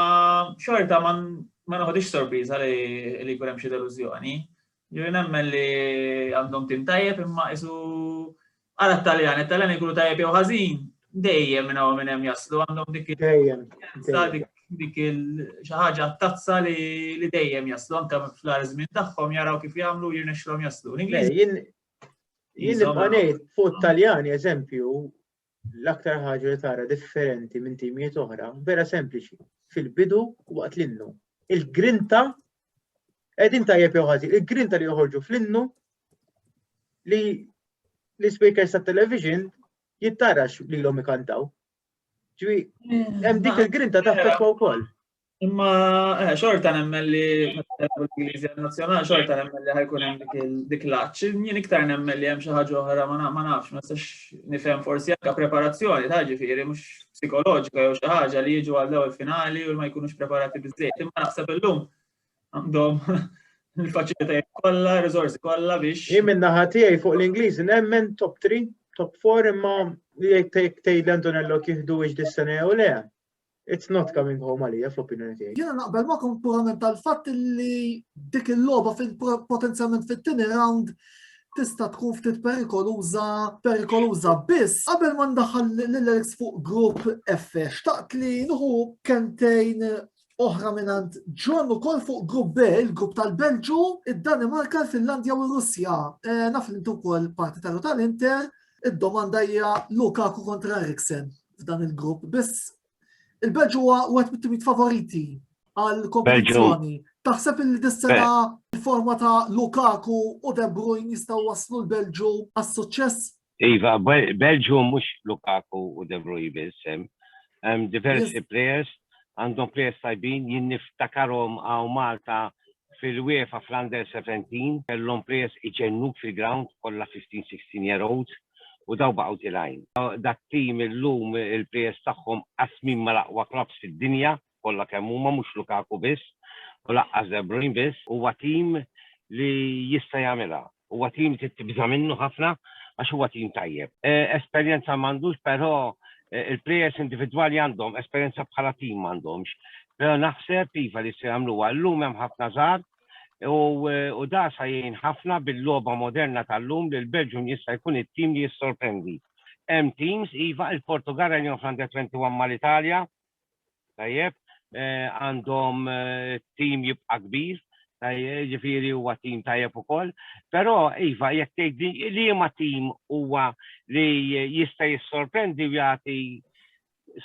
xorta ma noħodix sorpriża li jkun hemm xi delużjoni. Ġifieri nemmen li għandhom tim tajjeb imma isu għal it-Taljan, it-Taljan ikunu tajjeb jew ħażin, dejjem minn hawn minn hemm jaslu għandhom dik il-dejjem dik il xi ħaġa tazza li dejjem jaslu anke fl-ar żmien tagħhom jaraw kif jagħmlu jirnexxilhom jaslu. L-Ingliż. Jien nibqa' ngħid fuq Taljani eżempju l-aktar ħaġa li tara differenti minn timijiet oħra, vera sempliċi, fil-bidu waqt l-innu. Il-grinta, edin tajjeb jew ħażin, il-grinta li joħorġu fl-innu li l-speakers ta' television jittarax li l-om ikantaw. Ġwi, mm, hemm dik il-grinta ta' fekwa wkoll. Imma eh, xorta nemmen li l-Ingliżi nazzjonali xorta nemmen li ħajkun hemm dik l-aċċ. Jien iktar nemmen li hemm xi ħaġa oħra ma nafx, ma sax nifhem forsi anke preparazzjoni ta' ġifieri mhux psikoloġika jew xi ħaġa li jiġu għal ewwel finali u ma jkunux preparati biżejjed. Imma naħseb illum għandhom il-faċilitajiet kollha, riżorsi kollha biex. Jien minn naħa tiegħi fuq l-Ingliżi nemmen top 3, top 4 imma jekk tgħid Antonello kieħdu iġ dis-sena jew le. It's not coming home għalija fl-opinjoni tiegħi. Jiena naqbel magħkom purament tal-fatt li dik il-logħba potenzjalment fit-tieni round tista' tkun ftit perikoluża, perikoluża biss qabel ma ndaħal l-Alex fuq grupp F. Xtaqt li nuħu kentejn oħra minant ġon u kol fuq grupp B, il-grupp tal-Belġu, id-Danimarka, il-Finlandja u r-Russja. Eh, naf li intu kol partitarju tal-Inter, id-domanda hija Lukaku kontra Eriksen. f'dan il-grupp biss. Il-Belġu huwa wieħed mit-timijiet favoriti għal kompetizzjoni. Taħseb il dissena il-forma ta' Lukaku u De Bruyne jistgħu waslu l-Belġu għas-suċċess? Iva, Belġu mhux Lukaku u De Bruyne biss hemm diversi players għandhom players tajbin jien niftakarhom għaw Malta Fil-UEFA fl-Under 17 kellhom players iġennuk fil-ground kollha 15, 16 year olds u dawn baqgħu tilgħin. Dat-team illum il-players tagħhom qasmin mal-aqwa clubs fid-dinja kollha kemm huma mhux Lukaku biss u lanqas De Bruyne biss. Huwa team li jista' jagħmilha. Huwa tim trid tibża' minnu ħafna għax huwa tim tajjeb. Esperjenza m'għandux però il-plejers individwali għandhom, esperjenza bħala tim m'għandhomx. Però naħseb iva li se jagħmluha. Illum hemm ħafna żgħar u da sa jgħin ħafna bil-logħba moderna tal-lum li l-Belġium jista' jkun it-tim li jissorprendi. Hemm teams, iva, il-Portugall rajniehom fl-Under 21 mal-Italja, Tajjeb, għandhom tim jibqa' kbir, ġifieri huwa tim tajjeb ukoll, però iva jekk tgħidli liema tim huwa li jista' jissorprendi u jagħti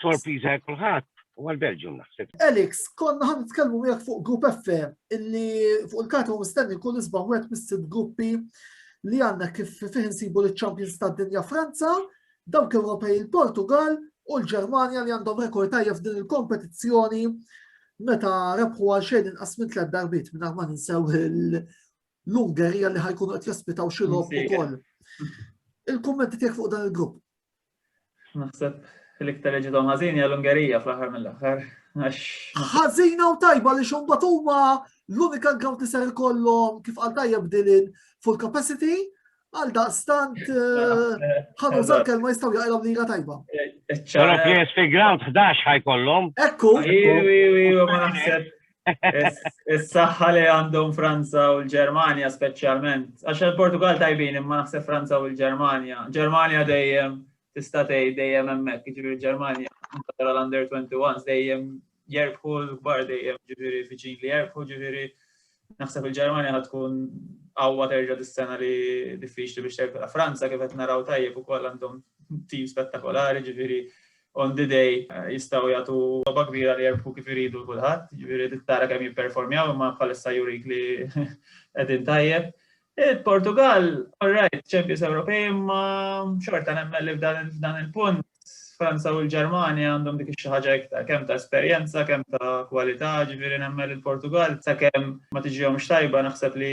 sorpriża lil kulħadd, huwa l-Belgium naħseb. Alex, konna ħa nitkellmu miegħek fuq Grupp F illi fuq il-karta huwa mistenni jkun isbaħ wieħed mis-sitt gruppi li għandna kif fih insibu liċ-champions tad-dinja Franza, dawk Ewropej il-Portugal u l-Ġermanja li għandhom rekord tajjeb f'din il-kompetizzjoni meta rebħu għal xejn inqas minn tliet darbiet minn ma ninsew l-Ungerija li ħajkunu qed jaspitaw xi logħob ukoll. Il-kummenti tiegħek fuq dan il-grupp. Naħseb l-iktar li ġidhom ħażin hija l-Ungerija fl-aħħar mill-aħħar. Ħażina u tajba li xumbat huma l-unika ground li ser ikollhom kif għal tajjeb dilin full capacity Għal daqstant, ħanuża l-kelma jistaw jaqilom lira tajba. Pero PSP Ground 11 ħajkollhom. Ekku. ma naħseb. Is-saħħa li għandhom Franza u l-Ġermanja speċjalment. Għax il-Portugal tajbin imma naħseb Franza u l-Ġermanja. Ġermanja dejjem tista' tgħid dejjem hemmhekk, jiġifieri l-Ġermanja tara l-under 21 dejjem jerbħu l-kbar dejjem ġifieri viċin li jerbħu ġifieri naħseb il-Ġermanja ħad tkun qawwa terġa' dis-sena li diffiċli biex terfilha. Franza kif qed naraw tajjeb ukoll għandhom tim spettakolari ġifieri on the day eh, jistgħu jagħtu roba kbira li jerbħu kif iridu kulħadd, ġifieri tittara kemm jipperformjaw imma bħalissa jurik li qegħdin tajjeb. Il-Portugall, all right, champions Ewropej imma xorta nemmen li f'dan il-punt Franza u l-Ġermanja għandhom dik xi ħaġa iktar, kemm ta' esperjenza, kemm ta' kwalità, ġifieri nemmen il-Portugal sakemm ma tiġihomx tajba naħseb li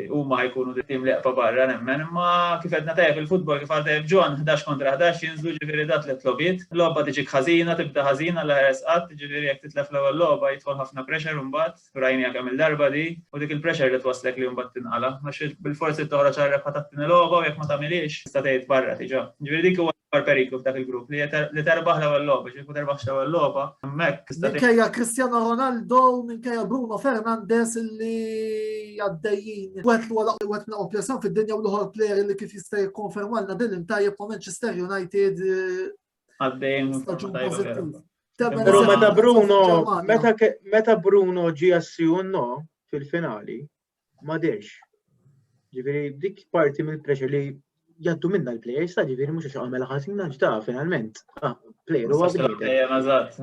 huma jkunu tim li jaqpa' barra nemmen, imma kif qedna tajjeb il-futbol kif għal tajjeb John 11 kontra 11 jinżlu ġifieri dat tliet lobiet, logħba tiġik ħażina, tibda ħażina l-aħjar esqatt, ġifieri jekk titlef l-ewwel logħba jidħol ħafna pressure imbagħad. Rajniha kemm il-darba di, u dik il-pressure li twasslek li mbagħad tinqala, għax bil-forsi trid toħroġ għal rebħa tat-tieni logħba u jekk ma tagħmilhiex tista' tgħid barra diġà. Ġifieri dik huwa l-akbar periklu f'dak il-grupp li terbaħ l-ewwel logħba, ġifieri ma terbaħx l-ewwel logħba, hemmhekk tista' Minkejja Cristiano Ronaldo, minkejja Bruno Fernandes li għaddejjin wet li wara wet minn qopja fid-dinja u l-ħor player li kif jista' jikkonfermalna din imtajjeb ma' Manchester United Għaddejn. Pero meta Bruno, meta Bruno ġi assijunno fil-finali, ma dex. Ġifiri, dik parti mill pressure li jaddu minna l-players, ta' ġifiri mux għax għamela ħazina ġda finalment. Ah, player u għazina.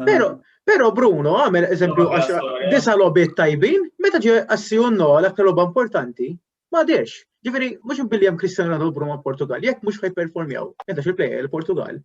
Pero, pero Bruno għamel eżempju għax disa lobit tajbin, meta ġi assijunno l-aktar loba importanti, Ma dex, ġifiri, mux billi jem Cristiano Ronaldo Bruma Portugal, jek mux ħaj performjaw, jenda xil plejja l-Portugal,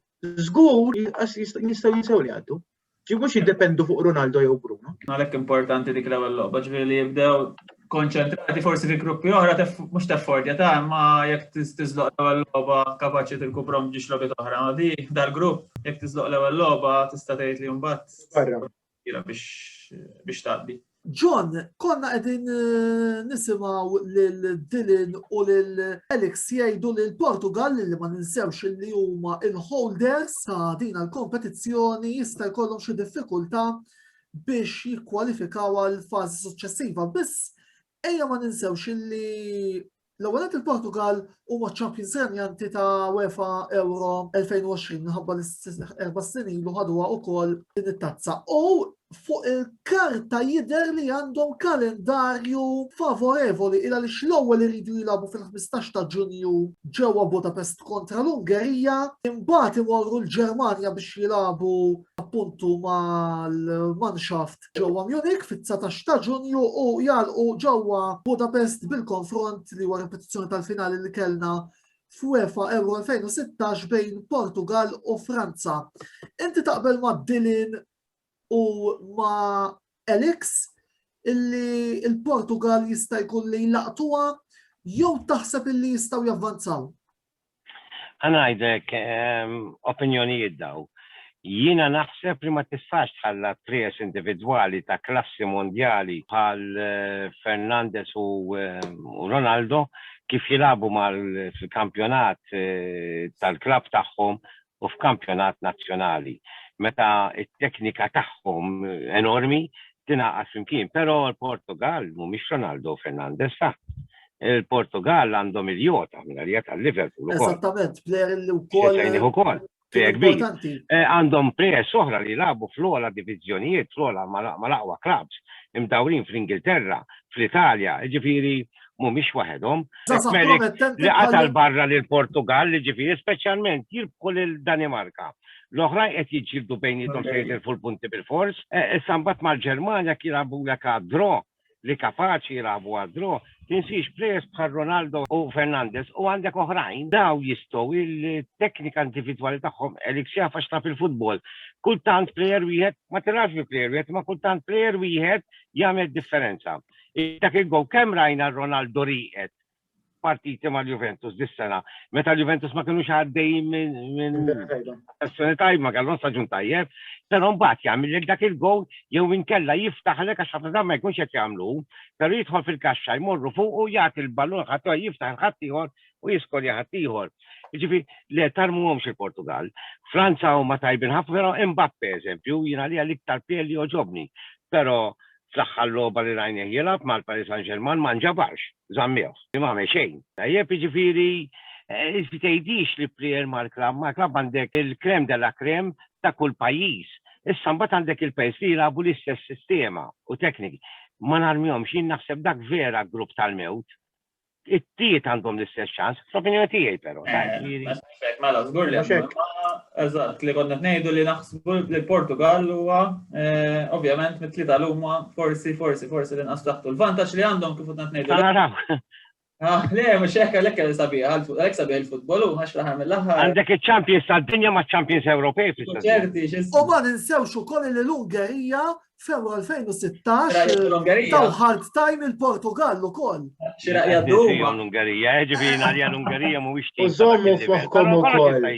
zgur jistaw jinsaw li għaddu. Ġi mux jiddependu fuq Ronaldo jew Bruno. Għalek importanti dik l-ewel loqba, ġifiri li jibdew konċentrati forsi fi gruppi oħra, mux teffordja ta' ma jek tizloq l-ewel loqba kapaċi tilkubrom ġiġ logħba oħra, ma di dal-grupp, jek tizloq l-ewel loqba tista' tgħid li jumbat. Barra. Ira biex taqdi. John, konna qegħdin eh, nisimgħu lil Dylan u lil Alex jgħidu li l-Portugal li ma ninsewx li huma il-holders ta' din l-kompetizzjoni jista' jkollhom xi diffikultà biex jikkwalifikaw għal fażi suċċessiva biss Ejja ma ninsewx illi L-ewwel il-Portugal huma ċ-champions renjanti ta' UEFA Euro 2020 minħabba l-erba' snin ilu ħadwa wkoll din it-tazza. U fuq il-karta jidher li għandhom kalendarju favorevoli ila li l-ewwel iridu jilagħbu fil-15 ta' Ġunju ġewwa Budapest kontra l-Ungerija, imbagħad imorru l-Ġermanja biex jilagħbu appuntu mal-manshaft ġewwa Munich fit-19 ta' Ġunju u jgħalqu ġewwa Budapest bil-konfront li huwa ripetizzjoni tal-finali li kellna f'UEFA Euro 2016 bejn Portugal u Franza. Inti taqbel ma' Dilin u ma' Alex illi il-Portugal jista' jkun li jlaqtuha jew taħseb illi jistgħu javvanzaw? Ħa ngħidlek opinjonijiet daw. Jiena naħseb li ma tistax tħalla t-trios individwali ta' klassi mondjali bħal Fernandes u Ronaldo kif jilagħbu fil-kampjonat tal-klabb tagħhom u f'kampjonat nazzjonali meta t-teknika tagħhom enormi tingħaqad flimkien. Però l-Portugall mhumiex Ronaldo u Fernandes, sa. Il-Portugall għandhom il-Jota minn għalija tal-Liverpool ukoll. Eżattament, plejer li wkoll. Sejnih ukoll. Plejer kbir. Eh, għandhom plejer soħra li jilagħbu fl-ogħla diviżjonijiet, fl-ogħla mal-aqwa clubs, imdawrin fl-Ingilterra, fl-Italja, ġifieri mhumiex waħedhom. Li qatal barra lil Portugal li ġifieri speċjalment jirbħu lil Danimarka. L-oħrajn qed jiġġieldu bejniethom se jitilfu l-punti bil-fors. Issa mbagħad mal-Ġermanja kien jilagħbulek għad-draw li kapaċi jilagħbu għad-draw. Tinsiex plejers bħal Ronaldo u Fernandez u għandek oħrajn daw jistgħu il-teknika individwali tagħhom elik xafa xtaf il-futbol. Kultant plejer wieħed ma tirax bi plejer wieħed ma kultant plejer wieħed jagħmel differenza. Dak il-gowl kemm rajna Ronaldo rieqed partiti mal-Juventus dis-sena. Meta l-Juventus ma kinux għaddejjin minn sessjoni tajb ma kellhom staġun tajjeb, però mbagħad jagħmilek dak il-gowl jew inkella jiftaħlek għax ħafna ma jkunx qed jagħmlu, però jidħol fil-kaxxa jmorru fuq u jagħti l-ballun ħadd jiftaħ il-ħadd ieħor u jiskolja ħadd ieħor. Ġifi, le tarmuhomx il-Portugal. Franza huma tajbin ħafna, però Mbappe eżempju, jiena li għal iktar pieli oġobni. Però Fl-aħħar logħba li rajnieh jilgħab mal-Paris Saint-Germain ma nġabarx, żammewh, li m'għamel xejn. Tajjeb, jiġifieri inti tgħidix li plejer mal-klabb, mal-klabb għandek il-crème de la crème ta' kull pajjiż. Issa mbagħad għandek il-pajjiż li jilagħbu l-istess sistema u tekniki. Ma narmihomx, jien naħseb dak vera grupp tal-mewt. it-tiet għandhom l-istess ċans, fl-opinjoni tiegħi però. Eh, mela, żgur li eżatt li konna ngħidu li naħsbu li l-Portugal huwa eh, ovvjament mit-tlieta l-huma forsi forsi forsi li nqas taħtu l-vantaġġ li għandhom kif qed ngħidu. Ah, le, mux ekka l ekka sabiħ, l-ek sabiħ il-futbolu, għax laħar mill-laħar. Għandek il-Champions tal-dinja ma' Champions Ewropej. Ċerti, U ma ninsewx u koll li l-Ungerija Febru 2016 taw hard time il-Portugal ukoll. Xira jaddu l-Ungerija, eh, ġifieri għalija l-Ungerija mhuwiex tim. Użommu f'moħħkom ukoll.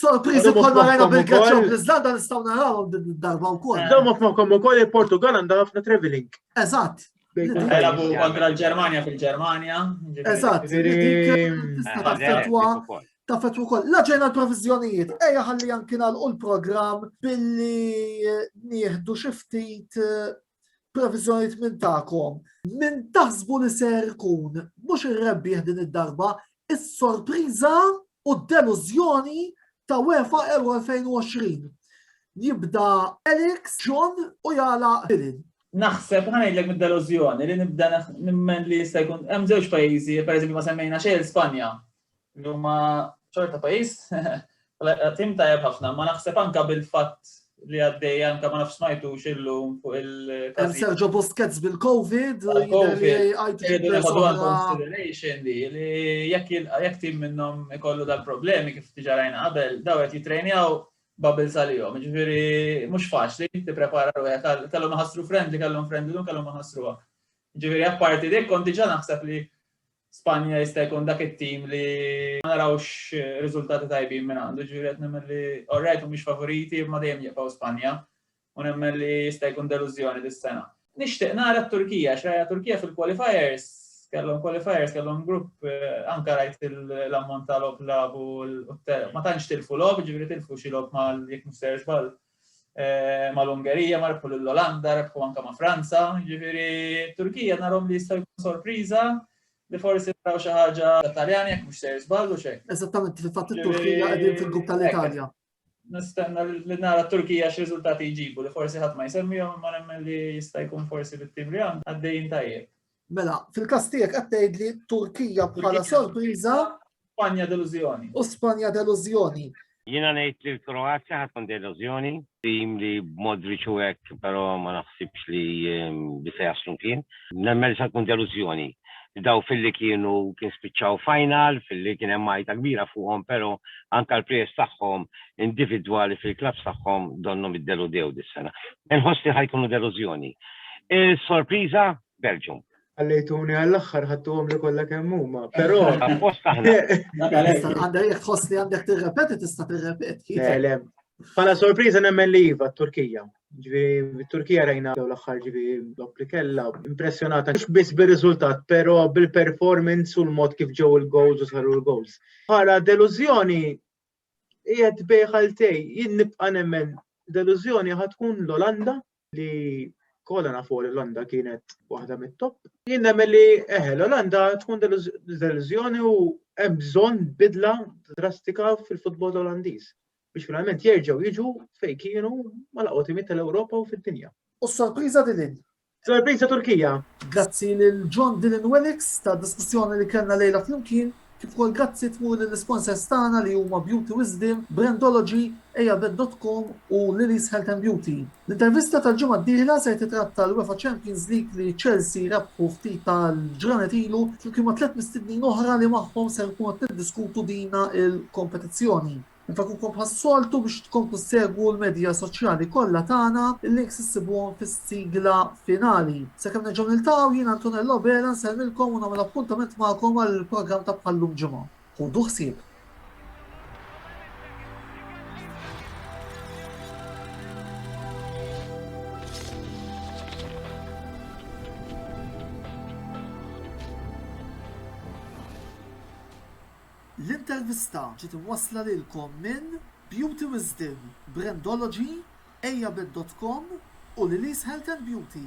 Sorpriżi bħal marajna bil-Greċja u l-Iżlanda nistgħu narawhom din id-darba wkoll. Użommu f'moħħkom ukoll il-Portugal għandha ħafna traveling. Eżatt. Elabu kontra l-Ġermanja fil-Ġermanja. Eżatt, tista' fetwa ta' fetwa kol. La ġejna l-provizjonijiet, eja ħalli anki u l-program billi eh, nieħdu xiftit eh, provizjonijiet minn ta'kom. Minn taħsbu li ser kun, mux il-rebbi din id-darba, is-sorpriza u d-deluzjoni ta' UEFA Euro 2020. Jibda Alex, John u jala Bilin. Naħseb, ħa ngħidlek mid-delużjoni li nibda nimmen li jista' jkun hemm żewġ pajjiżi, pereżempju ma semmejna xejn Spanja, li huma ċorta pajjiż tim tajjeb ħafna, ma naħseb anka bil-fatt li għaddej anka ma nafx smajtu xillu fuq il-każ. Sergio Busquets bil-Covid, consideration li li jekk tim minnhom ikollu dal-problemi kif tiġarajna qabel, daw qed jitrejnjaw bubbles għalihom. Jiġifieri mhux faċli tipprepara ruħek għal kellhom iħassru friend li kellhom friend illum kellhom iħassruha. Jiġifieri apparti dik kont diġà naħseb li Spanja jista' jkun dak it-tim li ma narawx riżultati tajbin minn għandu, ġifieri qed nemmen li orajt mhumiex favoriti imma dejjem jibqgħu Spanja. u nemmen li jista' jkun delużjoni dis-sena. Nixtieq nara t-Turkija, għax rajna Turkija fil-qualifiers, kellhom qualifiers, kellhom grupp anke rajt l-ammont ta' logħob labu ma tantx tilfu logħob, ġifieri tilfu xi logħob mal jekk mhux ser żball mal-Ungerija, ma rebħu lill-Olanda, rebħu anke ma' Franza, ġifieri t-Turkija narhom li jista' jkun sorpriża li forsi naraw xi ħaġa Taljani jekk mhux ser żball u xejn. Eżattament, fil-fatt it-Turkija qegħdin fil-grupp tal-Italja. nistenna li nara t-Turkija x'riżultati jġibu li forsi ħadd ma jsemmihom imma nemmen li jista' jkun forsi bit-tim li għandna għaddejjin tajjeb. Mela, fil-każ tiegħek qed tgħidli Turkija bħala sorpriża. Spanja delużjoni. U Spanja delużjoni. Jiena ngħid li l-Kroazja ħadd tkun delużjoni, tim li b'mod riċu hekk però ma naħsibx li ehm, bisa jaslu kien. Nemmen li se tkun delużjoni. Dawk filli kienu kien spiċċaw final, filli kien hemm għajta kbira fuqhom pero anka l-players tagħhom individwali fil-clubs tagħhom donnhom iddeludew dis-sena. Inħoss li ħa jkunu delużjoni. Is-sorpriża Belgium. Ħallejtuni għall-aħħar ħadtuhomli kollha kemm huma, però. Appost aħna. Għandek jekk tħoss li għandek tirrepeti tista' tirrepeti. Pala sorpriża nemmen li iva t-Turkija. Ġifieri Turkija rajna dawn l-aħħar ġifieri dok li kellha impressjonata mhux biss bir-riżultat, però bil-performance u l-mod kif ġew il-goals u saru l-goals. Bħala delużjoni qiegħed bejħal tej, jien nibqa' nemmen delużjoni ħad tkun l-Olanda li kollha nafu l-Olanda kienet waħda mit-top. Jien nemmen li eħe l-Olanda tkun delużjoni u hemm bżonn bidla drastika fil-futbol Olandiż. biex finalment jerġgħu jiġu fejn kienu ma laqgħu tal-Ewropa u fid-dinja. U s-sorpriża din Sorpriża Turkija. Grazzi lil John Dylan Wellix ta' diskussjoni li kellna lejla flimkien, kif ukoll grazzi tmur lill-isponsors tagħna li huma Beauty Wisdom, Brandology, Ejavet.com u Lily's Health and Beauty. L-intervista tal-ġimgħa d-dieħla ser titratta l-UEFA Champions League li Chelsea rebħu ftit tal-ġranet ilu flimkien ma' tliet mistednin oħra li magħhom ser tkunu qed tiddiskutu dina l-kompetizzjoni. Infakukom bħas-soltu biex tkomplu ssegwu l-medja soċjali kollha tagħna, il-links issibuhom fis-sigla finali. Sakemm nerġgħu niltaqgħu, jien Antonello Abela nsellmilkom u nagħmel appuntament magħkom għall-programm ta' bħal-lum ġimgħa. Ħudu ħsieb! L-intervista ġiet imwassla lilkom minn Beauty Wisdom, Brandology, Ejja Bet dot Com u Lili's Health and Beauty.